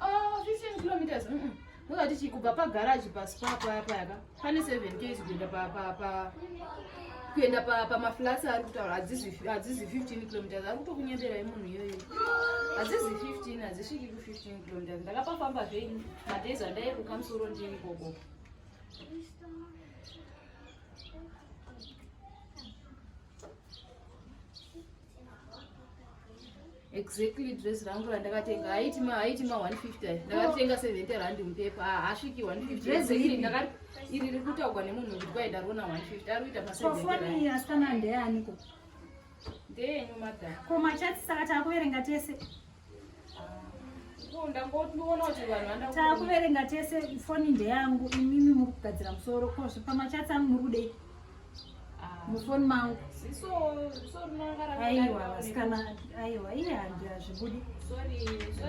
Oh, 15 kilometers. Mm -mm. Ndozati chi kubva pa garage pa spa paya paya ka. Pane 7 km kuenda pa pa pa kuenda pa pa maflats ari kutaura hadzizi hadzizi 15 kilometers ari kutokunyembera yemunhu iyoyo. Hadzizi 15 hadzisviki ku 15 kilometers. Ndakapafamba zvenyu madays andairuka musoro ndiri ikoko. exactly dress rangu randakatenga haiti ma haiti ma 150 ndakatenga 70 rand mupepa ah, hasviki 150 dress iri ndakati iri riri kutaugwa nemunhu kuti kwai ndariona 150 ari kuita pasefoni asikana ndeaniko ndeyenyu madam ko machatsi saka taakuverenga tese takuverenga tese foni ndeyangu imimi muri kugadzira musoro ko zvipamachats angu muri kudei ah. mufoni mangu aiwa vasikana aiwa iye handira zvibudi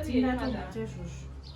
tingatombatezvozvo